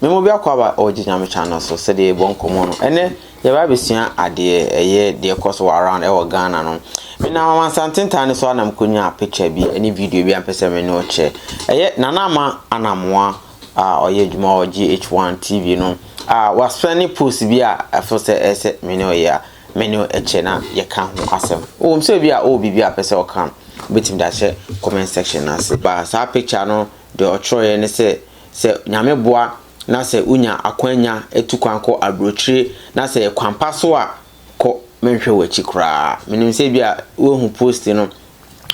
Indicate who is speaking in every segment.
Speaker 1: Me mu biako aba ɔgye Nyame channel so sɛdeɛ yɛbɔ nkɔmmɔ no ɛnɛ yɛba abɛsua adeɛ ɛyɛ deɛ ɛkɔ so wɔ around ɛwɔ Ghana no menam amansanten tan no so a na mekɔnyaa picture bi ɛne video bi a mpɛ sɛ me ne ɔkyɛ ɛyɛ Nana Ama Anamoa a ɔyɛ adwuma wɔ GH1 TV no a wasua ne post bi a ɛfo sɛ ɛsɛ me ne ɔyɛ a me ne ɛkyɛ na yɛka ho asɛm wɔm sɛ bi a ɔwɔ biribi a pɛ sɛ ɔka wobɛtumi de ahyɛ comment section no ase ba saa picture no deɛ ɔtwerɛeɛ ne sɛ sɛ Nyame boa na sɛ wonya akwanya tu kwan kɔ aburokyire na sɛ yɛ kwan pa so a, kɔ, menhwɛ w'akyi koraa. Menim sɛ ebia woahu post no.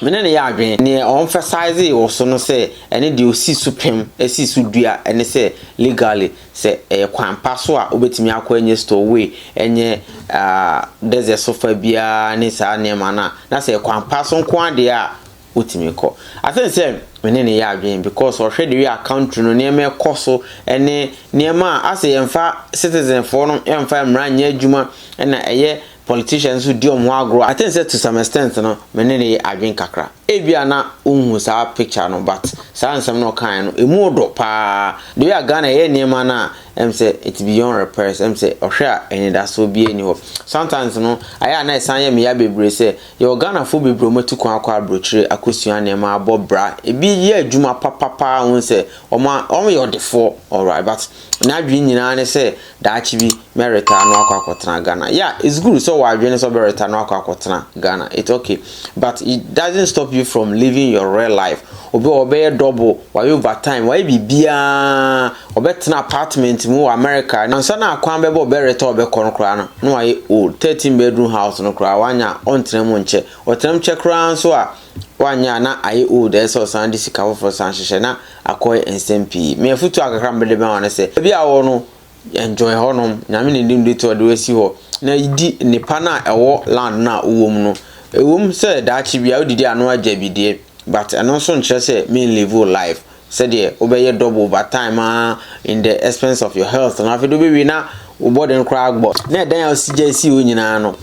Speaker 1: Me ne no yɛ adwene. Neɛ ɔ emphasizee wɔ so no sɛ ɛne deɛ ɔsi so pem, si so dua ne sɛ legally sɛ ɛyɛ kwan pa so a wobɛtumi akɔ ɛnyɛ stowaway, ɛnyɛ ah, desert so fa biara ne saa nneɛma no a, na sɛ ɛyɛ kwan pa so nko ara deɛ a, wotumi kɔ. I think sɛ me ne no yɛ adwene because ɔhwɛ the way a country no nneɛma ɛkɔ so ne nneɛma a asɛ yɛmfa citizen foɔ no yɛmfa mmara nyɛ adwuma na ɛyɛ politicians nso di wɔn ho agorɔ I think sɛ to some extent no me ne no yɛ adwene kakra. Ebia na wonhu saa picture no but saa nsɛm no ɔkaeɛ no ɛmu ɔdɔ paa the way a Ghana ɛyɛ nneɛma no a ɛm sɛ it's beyond repairs ɛm sɛ ɔhwɛ a anidasoɔ biara nni hɔ. Sometimes no ayɛ a na ɛsan yɛ me ya bebree sɛ Yɛwɔ Ghanafoɔ bebree a wɔatu kwan akɔ aburokyire akɔsua nneɛma abɔ bra. Ebi yɛ adwuma papa pa ara a wohu sɛ wɔn a, wɔyɛ ɔdefoɔ, alright, but n'adwene nyinaa ne sɛ daakye bi mɛ retire na wakɔ akɔtena Ghana. Yeah, it's good sɛ ɔwɔ adwene sɛ ɔbɛretire na wakɔ akɔtena Ghana, it's okay, but it doesn't stop you from living your real life. Obi wɔ hɔ ɔbɛyɛ double, wayɛ overtime, wayɛ biribiara, Ɔbɛtena apartment mu wɔ America na ansa na kwan bɛbɔ Beretta a ɔbɛkɔ no koraa no, na wayɛ old. Thirteen bedroom house no koraa wanyɛ a, ɔntena mu nkyɛ. Ɔtenam kyɛ koraa nso a, wanyɛ a na ayɛ old, ɛsɛ sɛ ɔsan de sika foforo san hyehyɛ. Na akɔyɛ nsɛm pii. Me afotu a kakra a mede bɛma wo ne sɛ, baabi a wowɔ no, enjoy hɔnom. Nyame na edi mu de to ɔde wo asi hɔ. Na di nnepa no a ɛwɔ land no a wowɔ mu no. Ɛwom sɛ daakye biara wodidi a na woagya bi deɛ, but ɛno nso nkyerɛ sɛ menlive wo life. sɛdeɛ wobɛyɛ double over time aa in the expense of your health no afei de wobɛwie na wo bɔden koraa agbɔ na ɛdan a wosi gya si hɔ nyinaa no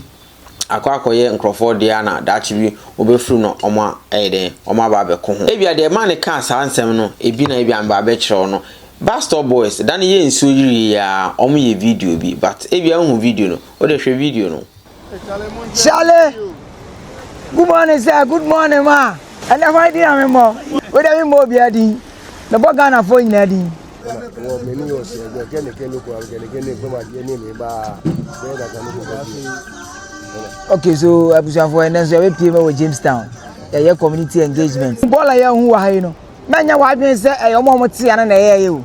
Speaker 1: akɔ akɔyɛ nkurɔfoɔ deɛ a na daakye bi wobɛfiri no ɔmo ɛyɛ dɛn ɔmo aba abɛko ho ebia deɛ ɛma ne kaa saa nsɛm no ebi na ebia mba abɛkyerɛw no Bastop boys da no yɛ nsuo yirie aa ɔmo yɛ video bi but ebia wohu video no wode hwɛ video no Charlie,
Speaker 2: good morning sir, good morning ma. Ɛnna ɛhɔ adi na memmɔ. Wei dɛ memmɔ obiara din. Mebɔ Ghanafoɔ nyinaa din. Wɔ m'ani yɛ ɔsɛ ɛgbɛ kɛnekɛne kura kɛnekɛne kɔm adeɛ ne me baa bɛyɛ daka ne kɔkɔ bi. Okay so abusuafoɔ ɛnɛ nso yɛbɛpie ma wɔ Jamestown yɛyɛ community engagement. Bɔɔla yɛ hu wɔ ha yi no mɛnyɛ wɔ adwene sɛ ɛyɛ ɔmo a ɔmo te ano na ɛyɛ yɛ o.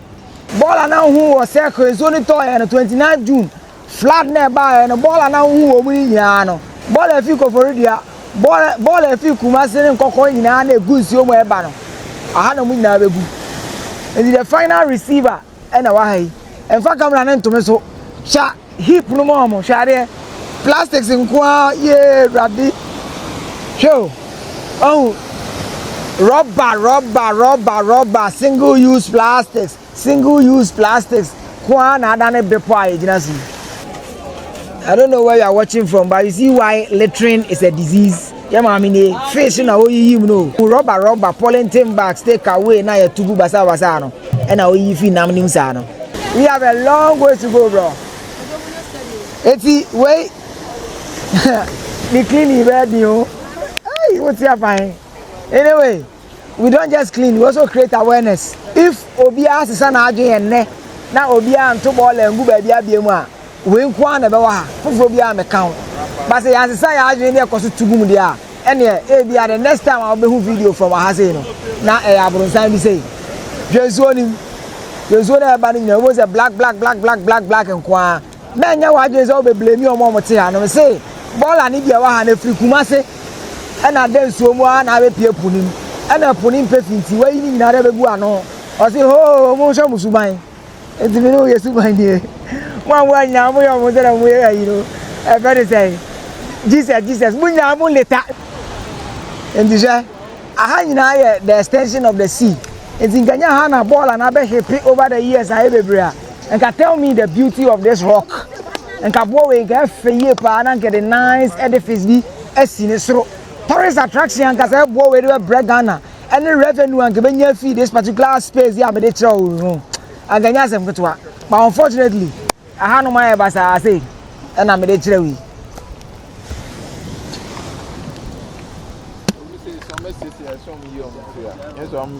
Speaker 2: Bɔɔla na hu wɔ sɛ kwensuo ne tɔɔ yɛ no 29 June Flood na ɛbaeɛ no, bɔɔl a na wohu wɔn yi nyinaa no, bɔɔl a ɛfiri Koforidua, bɔɔl, bɔɔl a ɛfiri Kumasi ne Nkɔkɔɔ nyinaa na ɛgu nsuo mu a ɛba no, aha na wɔn nyinaa bɛgu. Nti the final receiver ɛna wɔ ha yi. Ɛmfa camera no ntome so. Hwɛ heap no mu a wɔn, hwɛ adeɛ. Plastics nko ara, yee, Awurade. Hwɛ o, ɔhu, rɔba, rɔba, rɔba, rɔba, single use plastics. Single use plastics nko ara na adane bepɔ a yɛgyina so yi. I don't know where you are watching from but you see why littering is a disease. Yɛ maame nie fish na oyiyi mu no o. Rɔba rɔba polythene bags take away na yɛtu gu basabasa no ɛna oyiyi fi nam nim saa no. We have a long way to go bro. Eti wei ne cleaning bɛyɛ den o. Hey, what's your fine? Anyway. we don't just clean we also create awareness if obiara sesa n'adwene yɛ nnɛ na obiara nto bɔɔla ngu baabi abea mu a wei nko ara na ɛbɛwɔ ha foforɔ biara mɛka ho ba sɛ yɛansesa yɛn adwene ne ɛkɔ so to gum deɛ a ɛneɛ ebi a the next time a wobɛhu video from aha sei no na ɛyɛ eh, abrɔnsan bi sei hwɛ nsuo nim hwɛ nsuo no a ɛba no nyinaa wobɛhu sɛ black black black black black black nko ara na nyɛ w'adwene sɛ wobɛblame wɔn a wɔte ha no. Mese, bɔɔla ne deɛ ɛwɔ ha no, ɛfiri Kumase ɛna ada nsuo mu ara na abɛpue po no mu. Ɛna po no mpɛ fi nti, wayi ne nyinaa de abɛgu ano. Ɔse, hoo, monhwɛ mo suban. Nti me ne wo yɛ suban nie. Mo a moa nyinaa moyɛ wɔn sɛdeɛ moyɛ ayi no, ɛfɛ ne sɛn? Jesus, Jesus, mo nyinaa mo leta. Nti hwɛ, aha nyinaa yɛ the extension of the sea. Nti nka nyɛ ha na bɔɔla no abɛhepe over the years ayɛ bebree a, Nka tell me the beauty of this rock nka aboɔ wei nka ɛfɛ yie paa na nka de nice edifice bi asi ne soro tourist attraction nka sɛ ɛboɔ wei de bɛbrɛ Ghana ɛne revenue anka bɛnya fi this particular space yi a mede kyerɛ wo no anka nya asɛm ketewa but unfortunately aha no mayɛ basaa sei ɛna mede kyerɛ wo yi Some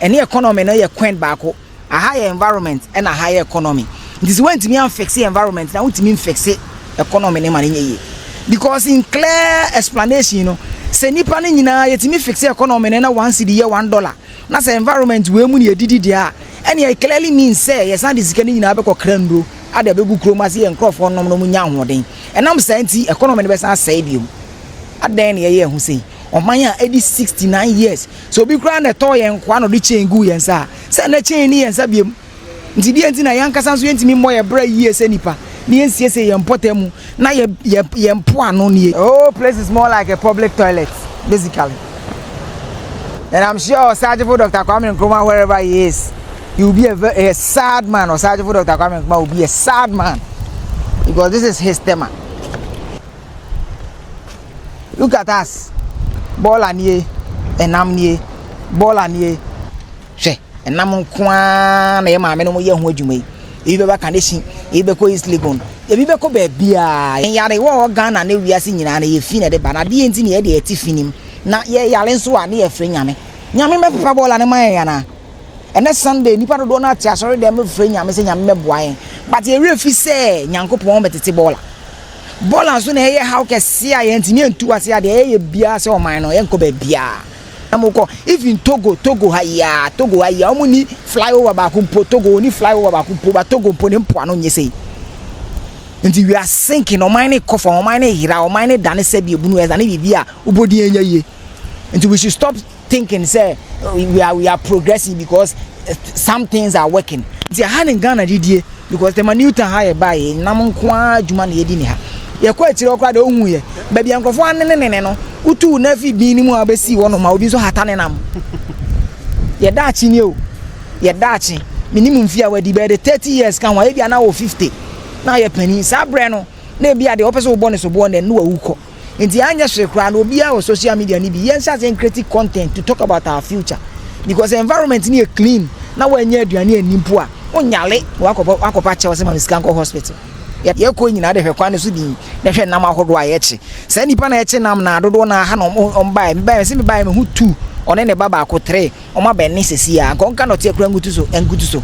Speaker 2: ɛne economy no yɛ coin baako aha yɛ environment ɛna aha yɛ economy nti sɛ wantumi amfixe environment na wontumi mfixe economy no ma no nyɛ yie because in clear explanation no sɛ nipa no nyinaa yɛtumi fixe economy no na one cedi yɛ one dollar na sɛ environment wei mu ne yɛdidi deɛ a ɛne it clearly means sɛ yɛsan de sika no nyinaa bɛkɔ kra nnuro ade abɛgu kurom ase yɛ nkurɔfoɔ nom no mu nya ahoɔden ɛnam saa nti economy no bɛsan asɛe biom adɛn na yɛyɛ ho sei ɔman a ɛdi 69 years Sɛ obi koraa na ɛtɔɔ yɛn nkoa na ɔde chain guu yɛn nsa a, sɛ na chain nni yɛn nsa bio. Nti deɛ nti na yɛn ankasa nso yɛntumi mmɔ yɛn bra yie sɛ nnipa na yɛnsiesie yɛn mpɔtam mu na yɛ, yɛ, yɛn mpoano nie? The whole place is more like a public toilet, basically. And I'm sure Osagyefo Dr. Kwame Nkrumah, wherever he is, he will be a, very, a sad man. Osagyefo Dr. Kwame Nkrumah will be a sad man because this is his tema. Look at us. Bɔɔla nie. Ɛnam nie. Bɔɔla nie. Hwɛ, ɛnam nko ara na yɛ maame no yɛ ho adwuma yi. Ebi bɛba Kaneshie, ebi bɛkɔ East Legon, ebi bɛkɔ baabiara. Yɛn yare wɔ hɔ Ghana ne wiase nyinaa na yɛfi na ɛde ba. Na adeɛ nti na yɛde ɛte fi nim. Na yɛ yare nso a ne yɛfrɛ nyame. Nyame mɛpepa bɔɔla no ma yɛn anaa? Ɛnɛ Sunday, nipa dodoɔ no ate asɔre dɛm mefrɛ nyame sɛ nyame mɛboa yɛn. But yɛwerɛ fi sɛ Nyankopɔn bɛtete bɔɔla. Bɔɔla nso na ɛyɛ haw kɛseɛ a yɛntumi ntu ase a deɛ yɛyɛ biara sɛ ɔman no yɛnkɔ baabiara na mokɔ even Togo Togo ha yi ara Togo ha yi ara wɔn ni flyover baako mpo Togo wɔn ni flyover baako mpo ba Togo mpo ne mpoano nyɛ sei nti we are sinking ɔman no kɔ fam ɔman no yera ɔman no dane sɛ deɛ bunu ɛdane biribi a wobɔdin anya yie nti we should stop. thinking sɛ we are we are progressing because eh, some things are working nti aha ne ghana didie because tɛma new town ha yɛ ba yɛ nam nko ara adwuma na yɛdi ne ha yɛkɔ akyire ɔkora de ohu yɛ baabi a nkurɔfoɔ anenenene no wotu na afi bin no mu a wobɛsi hɔ nom a obi nso hata ne nam yɛda akye nie o yɛda akye menim mfie a wadi bɛyɛ de 30 years ka ho a ebi ana wɔ 50 na yɛ panin saa berɛ no na ebi a deɛ wɔpɛ sɛ wobɔ ne soboɔ no ɛno wawu kɔ nti anyɛ hwee koraa no obiara wɔ social media no bi yɛnhyɛ ase nkreti content to talk about our future because environment no yɛ clean na wɔanyɛ aduane anni mpo a wonyale na wakɔbɔ akɔpa kyɛw sɛ ma me sika nkɔ hospital yɛkɔ nyinaa de hwɛ kwan no so din na hwɛ nam ahodoɔ a yɛkye saa nipa na yɛkye nam na dodoɔ na aha na wɔn baeɛ me baeɛ sɛ me baeɛ me ho tu ɔne ne ba baako tere wɔn abɛn ne sɛsi a nka ɔnka nɔteɛ kora nkutu so nkutu so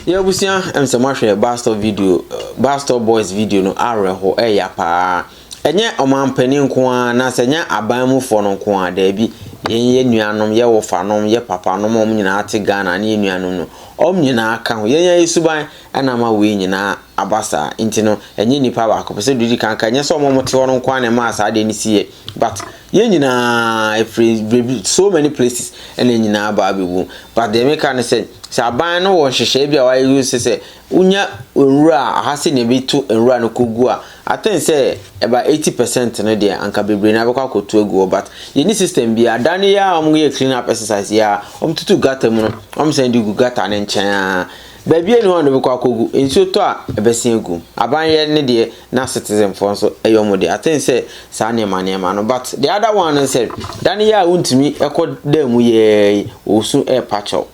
Speaker 1: yɛ abusua ɛm sɛ moahwɛ bastɔ video bastɔ boys video no awerɛho ɛya paa Ɛnyɛ ɔmanpanin nko ara anaasɛ ɛnyɛ aban mufoɔ no nko ara, daabi. Yɛn yɛ nuanom, yɛ wofanom, yɛ papanom a wɔn nyinaa te Ghana ne yɛ nuanom no, wɔn nyinaa ka ho. Yɛn yɛayɛ suban na ama wei nyinaa aba saa. Nti no, ɛnyɛ nipa baako pɛ. Sɛ didi kan ka, ɛnyɛ sɛ wɔn a wɔte hɔ no nko ara na ɛmaa saa adeɛ no si yɛ, but yɛn nyinaa ɛfiri baabi, so many places ɛna nyinaa aba abɛgu. But deɛ meka ne sɛ, sɛ aban no wɔ nhyehyɛe bi a wɔayɛ sɛ sɛ wonya nwura a, aha sɛ na ɛbɛtu nwura no kɔgu a, I think sɛ about eighty percent no deɛ anka bebree na bɛkɔ akɔtu agu hɔ but yɛni system bi a da no yɛ a wɔyɛ clean up exercise yɛ a wɔtutu gutter mu no wɔn sɛn de gu gutter ne nkyɛn a baabi ani hɔ a bɛkɔ akɔgu nsuo tɔ a ɛbɛsen agu aban yɛ ne deɛ na citizen foɔ nso ɛyɛ wɔn deɛ I think sɛ saa nneɛma nneɛma no but the other one no sɛ da no yɛ a wontumi ɛkɔ dan mu yɛ wɔsu ɛɛpa kyɛw.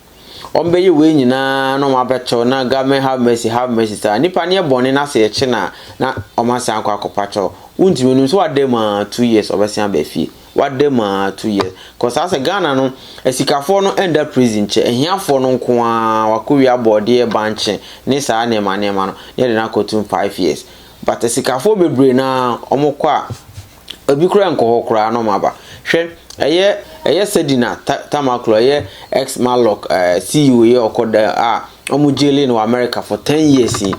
Speaker 1: Wɔbɛyɛ wei nyinaa na wɔabɛto na government have mercy have mercy saa. Nipa no yɛ bɔne na sɛ yɛkye no a na wɔasan akɔ akɔpa kyɛw. Wontumi nim sɛ wada mu a two years ɔbɛsan aba fie. Wada mu a two years. Kɔ saa sɛ Ghana no asikafoɔ no ɛnda prison kyɛ. Ahiafoɔ no nko ara wakɔwie abɔɔdeɛ bankye ne saa nneɛma nneɛma no na yɛde no akɔtum five years. But asikafoɔ bebree no ara wɔkɔ a Ebi koraa nkɔ hɔ koraa na wɔaba. Hwɛ, ɛyɛ ɛyɛ Sedina Ta Tamaklo, ɛyɛ ex Malloc eh, CEO yɛ ɔkɔ dɛ a wɔn jailing wɔ America for ten years yi.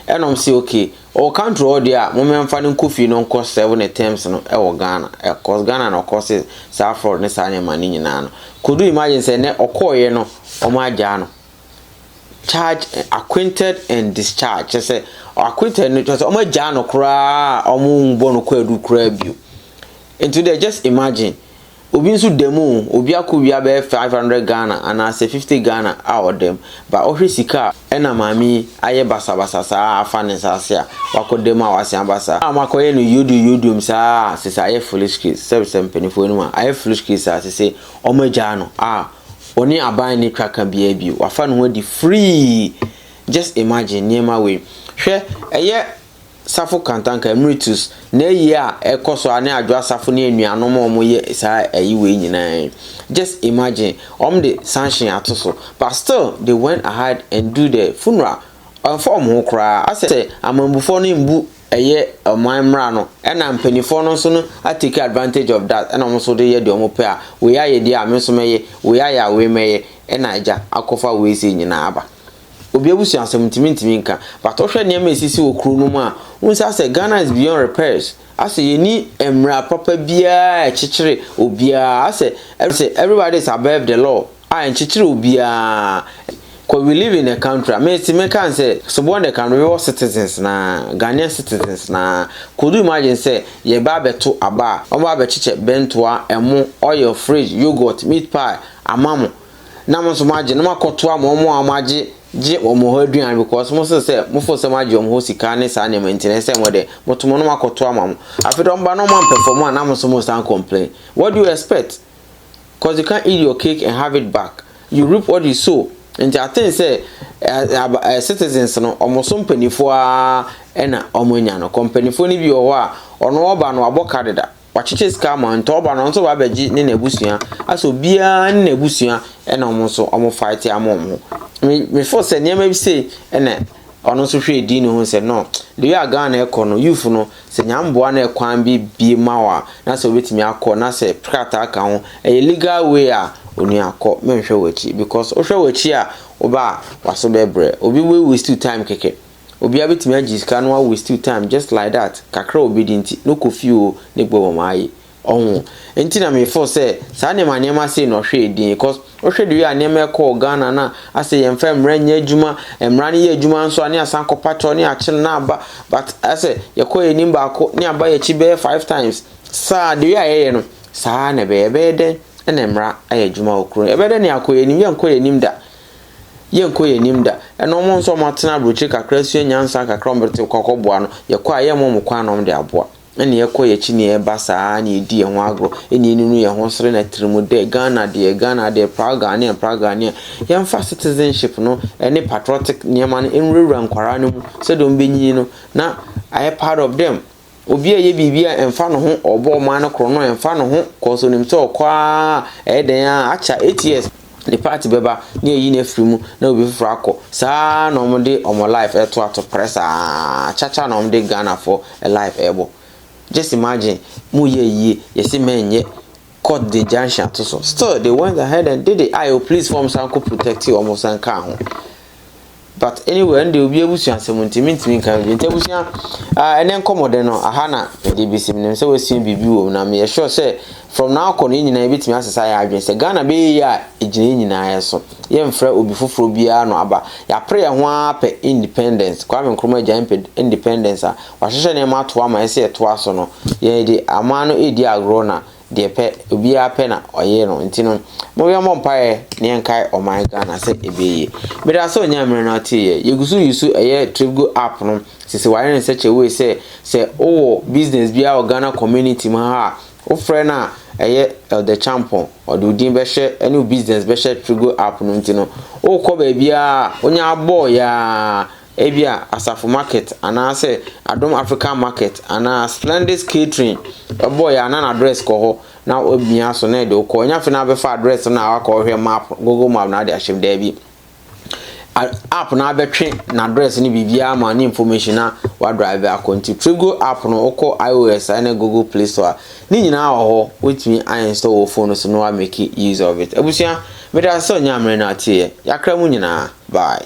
Speaker 1: Ɛna wɔn se okay, ɔwɔ country hɔ deɛ a, moma yɛmfa no nkɔ fie na ɔnkɔ serve ne terms no ɛwɔ Ghana. Eh, cause Ghana na ɔkɔ se saa fraud ne saa nneɛma no nyinaa no. Kodu imagine sɛ nnɛ ɔkɔɔeɛ no wɔn agyaa no. charge acquainted and discharge kyerɛ sɛ acquainted no kyerɛ sɛ wɔn agyaa no koraa a wɔn bɔ no kwaadu koraa bio nti deɛ just imagine obi nso da mu obi akɔ wia bɛyɛ five hundred ghana anaasɛ fifty ghana a ɔda mu ba ɔhwɛ sika a ɛna maame yi ayɛ basabasa saa afa ne nsa ase a wakɔ da mu a wasen aba saa a wakɔyɛ no yodum yodum saa sɛ sɛ ayɛ foolish case sɛ sɛ mpanimfoɔ no mu a ayɛ foolish case saa sɛ sɛ wɔn agyaa no a Ɔne aban nni ka ka biara bio. Wafa ne ho adi free. Just imagine nneɛma wei. Hwɛ, ɛyɛ Safo Kantanka Emeritus n'ayi a ɛkɔ so a ne Adwoa Safo ne anuanom a wɔyɛ saa ayi wei nyinaa yi. Just imagine, wɔde sanction ato so but still they went ahead and do the funeral. Ɛmfa wɔn ho koraa. Asɛ amammufoɔ no mbu. ɛyɛ ɔman mmara no ɛna mpanyinfoɔ no nso no a take advantage of that ɛna wɔn nso de yɛ deɛ wɔn pɛ a wei ayɛ deɛ a me nso mɛyɛ wei ayɛ a wei mɛyɛ ɛna agya akɔfa wei sei nyinaa aba obi abusua asɛm ntumi ntumi nka but ɔhwɛ nneɛma esisi wɔ kuro no mu a wɔn nsa sɛ Ghana is beyond repairs asɛ yɛni mmara papa biara ɛkyekyere obiara asɛ everybody is above the law. a nkyekyer obiara kɔ we live in a country a mesi me kan sɛ so bɔ ne kan wewɔ citizens na Ghanaian citizens na kodu mu adwen sɛ yɛ ba abɛto aba a ɔba abɛkyekyɛ bɛntoa ɛmo oil fridge yogurt meat pie ama mo na mo nso mo agye na mo akɔtoa mo ɔmo a ɔmo agye gye ɔmo hɔ aduan because mo se sɛ mo fo sɛ mo agye ɔmo hɔ sika ne saa nneɛma nti na ɛsɛ mo de mo to mo no mo akɔtoa ma mo afei de ɔmo ba na ɔmo ampɛ fam a na mo nso mo san complain what do you expect cause you can't eat your cake and have it back, you reap what you sow, nti I think sɛ ɛ citizens no wɔn so mpanimfoɔ ara na wɔn anya no, cause mpanimfoɔ no bi wɔ hɔ a ɔno ɔba no wabɔ ka deda, wakyekyɛ sika ama nti ɔba no ɔno nso ba abɛgye ne n'abusua, asɛ obiara ne n'abusua na wɔn nso wɔn fight ama wɔn ho, me me feel sɛ nneɛma bi sei na. Ɔno nso hwɛɛ dii no hu sɛ no de wei a Ghana ɛkɔ no youth no sɛ Nyame boa na ɛkwan bi bie ma wo a na sɛ wobɛtumi akɔ na sɛ krataa ka ho ɛyɛ legal way a onua kɔ menhwɛ w'akyi because wohwɛ w'akyi a woba a w'aso bɛbrɛ obi wei waste wo time kɛkɛ obia bɛtumi agye sika na wa waste wo time just like that kakra a obɛdi nti no kɔ fie oo ne gbɔbɔ maa yi Ɔho nti na me feel sɛ saa nneɛma nneɛma sei na ɔhwɛɛ din because wohwɛ the way a nneɛma ɛkɔɔ Ghana na asɛ yɛmfa mmara nyɛ adwuma, mmara no yɛ adwuma nso a ne asan kɔ patrol ne akye no na aba but asɛ yɛkɔ yɛn anim baako ne aba yɛn akyi bɛyɛ five times saa the way a yɛyɛ no saa na ɛbɛyɛ ɛbɛyɛ dɛn na mmara ayɛ adwuma wɔ kuro ɛbɛyɛ dɛn na yɛakɔ yɛn anim yɛnkɔ yɛn anim da yɛnkɔ yɛn anim da ɛna wɔn nso wɔn atena aburokyire kakra sua nyansa kakra wɔn bɛte kɔkɔboa no yɛkɔ a yɛmmɔ wɔn kwan na wɔn de aboa. na nea ɛkɔ yɛn akyi nea ɛba saa ara na yɛdi yɛn ho agorɔ ɛne ɛnunu yɛn ho sere na atirimu dɛ Ghana deɛ Ghana deɛ proud Ghanaian proud Ghanaian yɛmfa citizenship no ɛne patriotic nneɛma no nwurawura nkwaraa no mu sɛdeɛ wɔn bɛnyini no na ayɛ part of them obi a ɛyɛ biribi a ɛmfa no ho ɔbɔ ɔman no korɔ no ɛmfa no ho kɔɔ so nim sɛ ɔkɔ a ɛyɛ dɛn a akya 8 years Ne part bɛba na yɛayi no afiri mu na obi foforɔ akɔ. Saa ara na wɔn de wɔn life ɛreto ato prɛ saa. Chacha na wɔn de Ghanafoɔ life ɛrebɔ. Just imagine, mo yɛ ayie, yɛse mɛ nyɛ, court de injunction ato so. Still they went ahead and did it. Ayo please fɔm san kɔ protect wɔn san kaa ho. but anyway ɛnde obi abusua asɛm nti mentumi nka bi nti abusua ɛnɛ nkɔmmɔdɛ no aha na ɛde bɛsi menim sɛ wasua biribi wɔ mu na meyɛ sure sɛ from now kɔ no yɛ nyinaa yɛbɛtumi asesa yɛ adwene sɛ ghana bɛyɛ yi a ɛgyina yɛ nyinaa so yɛmfrɛ obi foforɔ biara no aba yɛapere yɛ ho ara pɛ independence kwame nkroma agya mpɛ independence a wahyehyɛ nneɛma ato ama ɛsɛ yɛtoa so no yɛde aman no ɛdi agorɔ na deɛ pɛ obiara pɛ na ɔyɛ no nti no mo yɛ mo mpaeɛ na yɛn kae ɔman Ghana sɛ ebie yie meda sɛ onyaa mmerɛ na ɔte yɛ yɛ gusu yusu ɛyɛ tripgo app no sisi wayɛ ne such a way sɛ sɛ owɔ business biara wɔ Ghana community mu ha a wofrɛ no a ɛyɛ Elder Champon ɔde odin bɛhyɛ ɛne business bɛhyɛ tripgo app no nti no wokɔ baabiara onya abɔɔ yaa Ebia Asafo Market anaasɛ Adom African Market anaa Splendid's Catering bɔɔ yɛ a na n'address kɔ hɔ na womia so na ɛde wo kɔ. Ɛnyɛ afei na abɛfa address no na wakɔhwɛ map, Google Map na ade ahyɛ mu. Daabi. App no abɛtwe n'address no biribiara ma ne information na wadrive akɔ. Nti Tripgo app no wokɔ iOS a ne Google Play Store a ne nyinaa wɔ hɔ. Wotumi install wɔ phone no so na wa make use of it. Abusua, meda sɛ onyaa mmere na atieɛ. Yakra mu nyinaa. Bye.